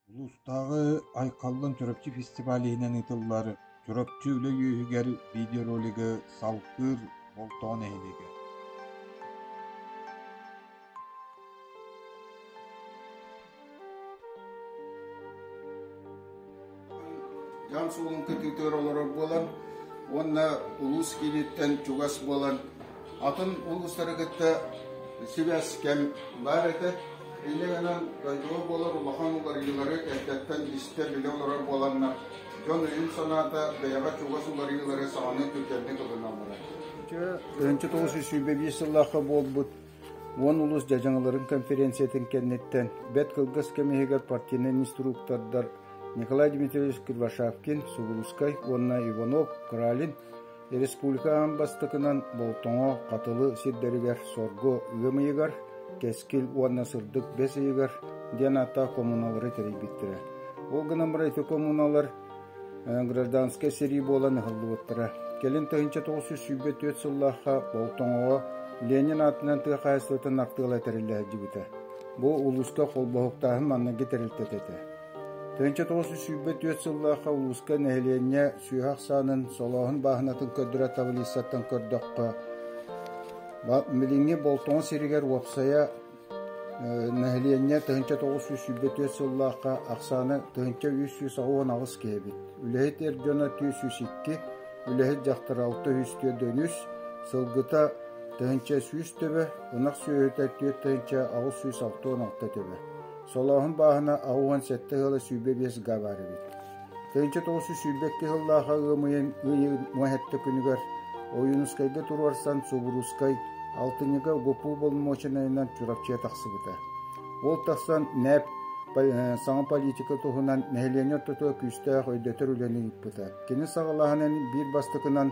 Улуустааҕы Айхаллан Чурапчы фестиваль иһинэн ыытыллар Чурапчы үлэ үөһүгэр видеоролигы салгыыр Болтоҕо нэһилиэгэ дьаам суолун көтүүтүгэр олорор буолан уонна улуус кииниттэн чугас буолан атын улуустары кытта сибээс кэм баар этэ. Ille гынан дойдуга болор улахан уларыылары эрдэттэн истэ-билэ олорор буоланнар, дьон өйүн-санаата бэйэҕэ чугас уларыылары саҕаны түргэнник ылыналлара. Ынчы 925 сыллаахха буолбут уон улус дьадьаҥыларын конференциятын кэнниттэн бэт кылгас кэм иһигэр партийнай инструктордар Николай Дмитриевич Кривошапкин, Сугулускай уонна Иванов Кралин Республикаҕа бастакынан Болтоҥо Хатылы сирдэригэр соргу ыам ыйыгар, Кэскил уонна Сырдык бэс ыйыгар диэн ааттаах коммуналары тэрийбиттэрэ. Ол гынан баран ити коммуналар гражданскай сэрии буолан ыһыллыбыттара. Кэлин тыһыынча тоҕус сүүс сүүрбэ түөрт сыллаахха Болтоҥоҕо Ленин аатынан тыа хаһаайыстыбатын артыала тэриллэ сылдьыбыта. Бу улууска холбоһуктааһын манныгы тэрилтэ этэ. Тыһыынча тоҕус сүүс сүүрбэ түөрт сыллаахха улууска нэһилиэнньэ сүөһү ахсаанын, солооһун бааһынатын көрдөрөр таблицаттан көрдөххө, билиҥҥи Болтоҕо сиригэр уопсайа нэһилиэнньэ тыһыынча тоҕус сүүс сүүрбэ түөрт сыллаахха ахсаана тыһыынча үс сүүс аҕыс аҕыс киһи эбит. Үлэһит эр дьоно түөрт сүүс икки, үлэһит дьахтар алта үс түөрт дьон үс, сылгыта тыһыынча сүүс төбө, ынах сүөһүтэ түөрт тыһыынча аҕыс сүүс алта уон алта төбө. Солооһун бааһына аһы уон сэттэ ыала сүүрбэ биэс га баар эбит. Тыһыынча тоҕус сүүс сүүрбэ икки сыллаах ыамыйын ыйы муоһетте күнүгэр Ойуунускайга туруорсан Субуруускай алтынньыга ГУПУ боломуочунайынан Чурапчыга тахсыбыта. Ол тахсан НЭП саҥа политика туһунан нэһилиэнньэ ортотугар күүстээх өйдөтөр үлэни ыыппыта. Кини саҕалаһанын биир бастакынан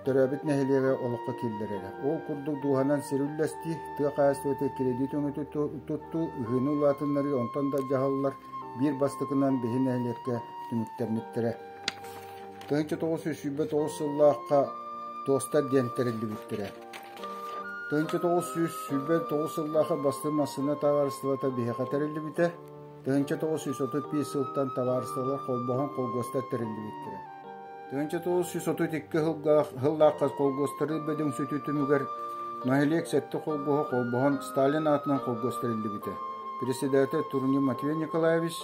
төрөөбүт нэһилиэгэ олоххо киллэрэрэ. Ол курдук дууһанан сир үллэстии, тыа хаһаайыстыбата кирэдиит өҥү туттуу, ыһыыны улаатыннарыы онтон да дьаһаллар биир бастакынан биһи нэһилиэккэ түмүктэммиттэрэ. Тыһынча тоҕус сүүс сүүрбэ тоҕус сыллаахха туостар диэн тэриллибиттэрэ. Тыһынча тоҕус сүүс сүүрбэ тоҕус сыллаахы бастыҥ массыына таҕаыстыбата биһиэхэ тэриллибитэ. Тыһыынча тоҕус сүүс отут биир сылтан табаарысталар холбоһон холкуостар тэриллибиттэрэ. Тыһыынча тоҕус сүүс отут икки сыллаах, сыллаахха холкуостарыы бөдөҥсүтүү түмүгэр нэһилиэк сэттэ холкуоһа холбоһон Сталин аатынан холкуос тэриллибитэ. Председатель Турни Матвей Николаевич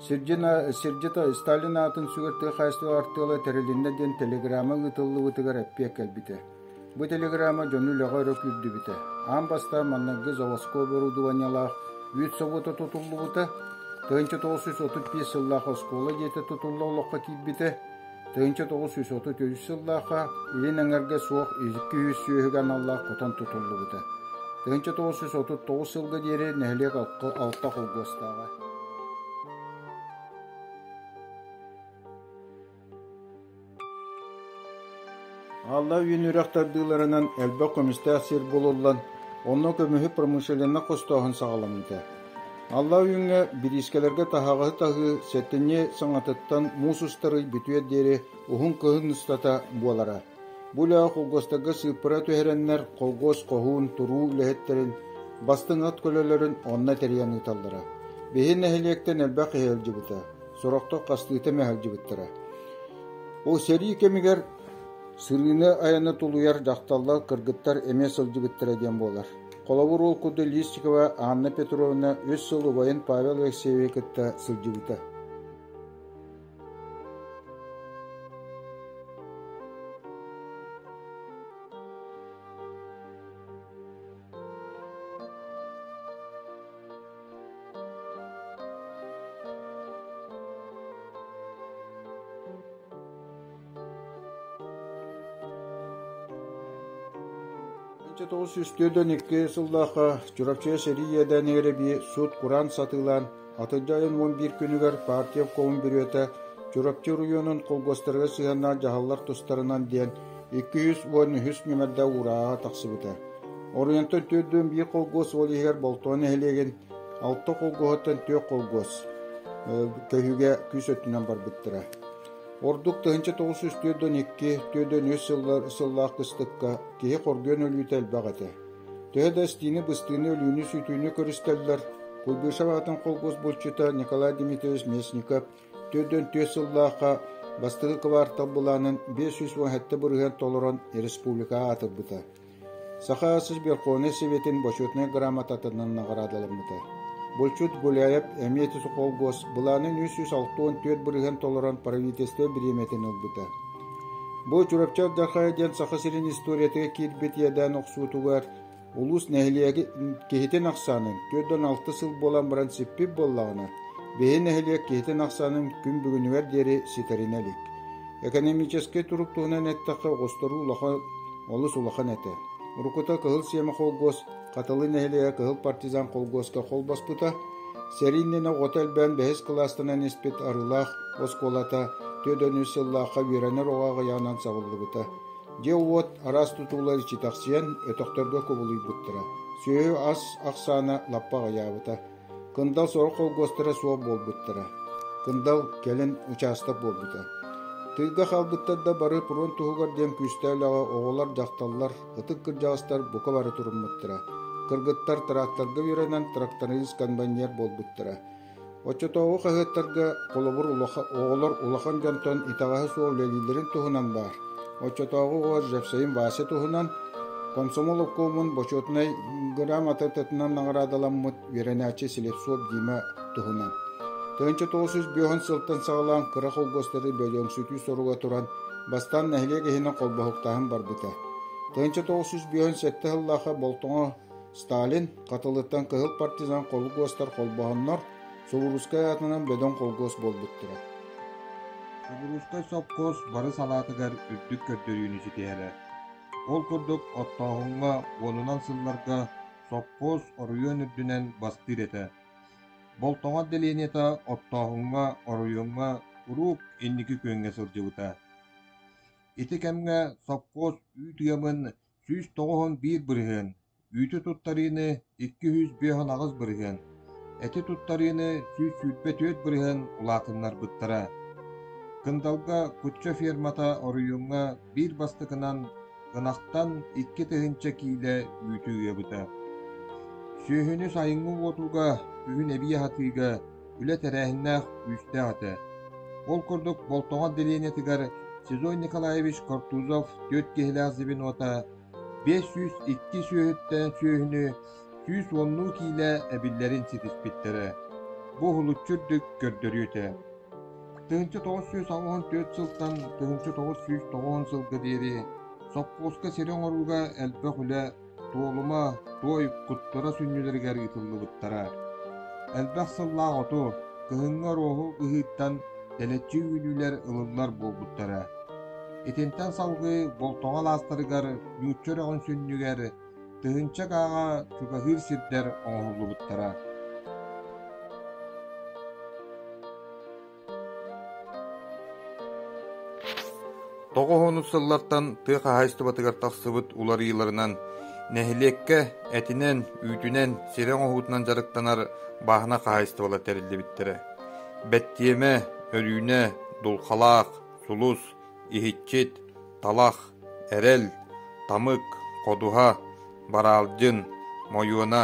сирдьит Сталин аатын сүгэр тыа хаһаайыстыба артыала тэрилиннэ диэн телеграмма ыытыллыбытыгар эппиэт кэлбитэ. Бу телеграмма дьону үлэҕэ өрө күүрдүбүтэ, аан бастаан маннайгы заводскай оборудованиелаах үүт собуота тутуллубута, тыһыынча тоҕус сүүс отут биэс сыллаах оскуола дьиэтэ тутулла олоххо киирбитэ, тыһыынча тоҕус сүүс отут үс сыллаахха илин эҥэргэ суох икки үһүс сүөһүгэ аналлаах хотон тутуллубута, тыһыынча тоҕус сүүс отут тоҕус сылга диэри нэһилиэк алта холкуостааҕа. Алла үүн үрэх тардыыларынан элбэх көмүстээх сир булуллан, онно көмүһү промышленнай хостооһун саҕаламмыта. Алла үүҥҥэ бириискэлэргэ таһаҕаһы таһыы сэттинньи саҥатыттан муус устарый бүтүөр диэри уһун кыһын устата буолара. Бу үлэҕэ холкуостарга сыыппара түһэрэннэр холкуос хоһуун туруу үлэһиттэрин бастыҥ ат көлөлөрүн онно тэрийэн ыыталлара. Биһи нэһилиэктэн элбэх иһэ илдьибитэ. сорохтор хастыыта эмэ сылдьыбыттара. Ол сэрии кэмигэр сырыыны айаны тулуйар дьахталлар кыргыттар эмиэ сылдьыбыттара диэн буолар. Холобур ол курдук Листикова Анна Петровна үс сыл убайын Павел Алексеевы кытта сылдьыбыта. 1902 сыллаахха Чурапчыга сэрии иэдээн эрэби сут-кураан сатыылаан атырдьа айын уон биир күнүгэр партия обкомун бүрүөтэ Чурапчы оройуонун колгостарыгар сыһыаннаах дьаһаллар тустарынан диэн Икки сүүс уон үһүс нүмердэ уурааҕа тахсыбыта. Оройонтон төрдүөн биир холкуос уол иһигэр Болтоҕо нэһилиэгин алта холкуоһуттан түөрт холкуос көһүүгэ күүс өттүнэн барбыттара. Ордук тыһыынча тоҕус сүүс түөртөн икки, түөртөн үс сыллаах быстыкка киһи хоргуйан өлүүтэ элбэх этэ. Төһө да истиини-быстыыны, өлүүнү-сүтүүнү көрүстэллэр, Куйбышев аатын холкуос булчута Николай Дмитриевич Местников Төрдүөн түөрт сыллаахха бастакы кыбаартал былаанын биэс сүүс уон сэттэ бырыһыан толорон республикаҕа аатырбыта, Саха Сосберкуонай Сэбиэтин Почетнай грамотатынан наҕараадаламмыта. Булчут Гуляев эмиэ Сухолгос былаанын үс сүүс алта уон түөрт бырыһыан толорон правительство бириэмэтин ылбыта. Бу Чурапчы Ардахая диэн Саха сирин историятыгар киирбит иэдээн охсуутугар Улуус нэһилиэги киһитин ахсаанын түөрт уон алта сыл буолан баран сиппит буоллаҕына, биһи нэһилиэк киһитин ахсаанын күн бүгүнүгэр диэри ситэринэ илик. Экономическай турук туһунан эттэххэ, оҕустарыы улахан олус улахан этэ. Уруккута Кыһыл Сиэмэ холкуос Хатылы нэһилиэгэ Кыһыл Партизан холкуоска холбоспута. Сэрии иннинэ оҕото элбээн бэһис кылаастынан испит Арыылаах оскуолата түөрт сыллаахха үөрэнэр оҕо аҕыйаҕынан сабыллыбыта. Дьэ-уот араас тутуулар читэхсийэн, өтөхтөргө кубулуйбуттара, сүөһү ас ахсаана лаппа аҕыйаабыта, кындал сорох холкуостара суох буолбуттара, кындал кэлин учаастак буолбута. Тыылга хаалбыттар да бары фронт туһугар диэн күүстээх үлэҕэ оҕолор, дьахталлар, ытык кырдьаҕастар бука бары туруммуттара. Кыргыттар тракторга үөрэнэн тракторист-конбайнер буолбуттара. Оччотооҕу хаһыаттарга холобур оҕолор улахан дьонтон итэҕэһэ суох үлэлииллэрин туһунан баар. Оччотооҕу оҕо Жевсейн Вася туһунан «Комсомол обкомун бочуотунай грамотатытынан наҕараадаламмыт үөрэнээччи Слепцов Дима туһунан. Тыһыынча тоҕус сүүс биэһун сылтан саҕалаан кыра холкуостары бөлөҥсүтүү соруга туран, бастаан нэһилиэк иһинэн холбоһуктааһын барбыта. Тыһыынча тоҕус сүүс биэһун сэттэ сыллаахха Болтоҥо Сталин Хатылыттан кыһыл партизан холкуостар холбоһоннор, Сувурускай аатынан бөдөҥ холкуос буолбуттара. Сувурускай сопхуос бары салаатыгар үрдүк көрдөрүүнү ситиһэрэ. Ол курдук оттооһуҥҥа уонунан сылларга сопхуос оройуон үрдүнэн бастыыр этэ. Болтоҕо отделениета оттооһуҥҥа, оройуоҥҥа куруук инники күөҥҥэ сылдьыбыта. Ити кэмҥэ сопхуос үүт-үйамын сүүс тоҕуһун биир бырыһыан, үүтү туттарыыны икки сүүс биэһун аҕыс бырыһыан, эти туттарыыны сүүс сүүрбэ түөрт бырыһыан улаатыннарбыттара. Кындалга кучча фермата оройуоҥҥа биир бастакынан ынахтан икки тыһыынча киилэ үүтү ыабыта. Сүөһүнү сайыҥҥы уотууга, күһүн эбии аһатыыга, үлэ тэрээһиннээх күүстээх этэ. Ол курдук Болтоҕор делениетыгар Сизой Николаевич Кортузов түөрт киһилээх звенота, биэс сүүс икки сүөһүттэн сүөһүнү сүүс уоннуу киилэ эбиллэрин ситиспиттэрэ. Бу уһулуччу үрдүк көрдөрүү этэ. Тыһыынча тоҕус сүүс оҕоһун түөрт сылтан тыһыынча тоҕус сүүс тоҕоһун сылга диэри сопхуоска сири оҥорууга элбэх үлэ Туолума, туой куттара сүнньүлэригэр ыытыллыбыттара. Элбэх сыллаах оту, кыһыҥҥы оруоһу ыһыыттан дэлэччи үүнүүлэр ылыллар буолбуттара. Итинтэн салгыы Болтоҕо алаастарыгар нуучча үрэҕин сүнньүгэр тыһыынча кааҕа чугаһыыр сирдэр оҥоһуллубуттара. Тоҕуһуннук сыллартан тыа хаһаайыстыбатыгар тахсыбыт уларыйыыларынан нэһилиэккэ этинэн, үүтүнэн, сирэ оҥоһуутунан дьарыктанар бааһына хаһаайыстыбалар тэриллибиттэрэ. Бэттиэмэ, өрүүнэ, дулхалаах, сулус, иһиччит, талах, эрэл, тамык, ходуһа, бараалдьын, мойуона,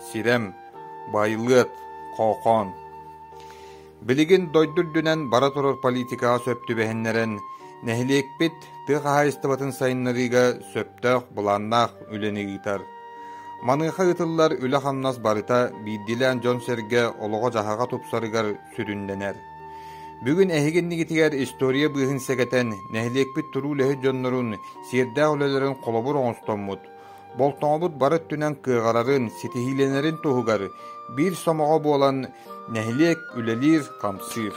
сирэм, байылыат, хоохоон. Билигин дойду үрдүнэн бара турар политикаҕа сөп түбэһиннэрэн, нэһилиэкпит тыа хаһаайыстыбатын сайыннарыыга сөптөөх былааннаах үлэни ыытар. Маныаха ыытыллар үлэ-хамнас барыта биирдиилээн дьон-сэргэ олоҕо-дьаһаҕа тупсарыгар сүрүннэнэр. Бүгүн эһиги иннигитигэр история быыһын сэгэтэн, нэһилиэкпит туруу үлэһит дьоннорун, сиэрдээх үлэлэрин холобур оҥостоммут, Болтоҥобут бары өттүнэн кыаҕырарын, ситиһиилэнэрин туһугар биир сомоҕо буолан нэһилиэк үлэлиир-хамсыыр.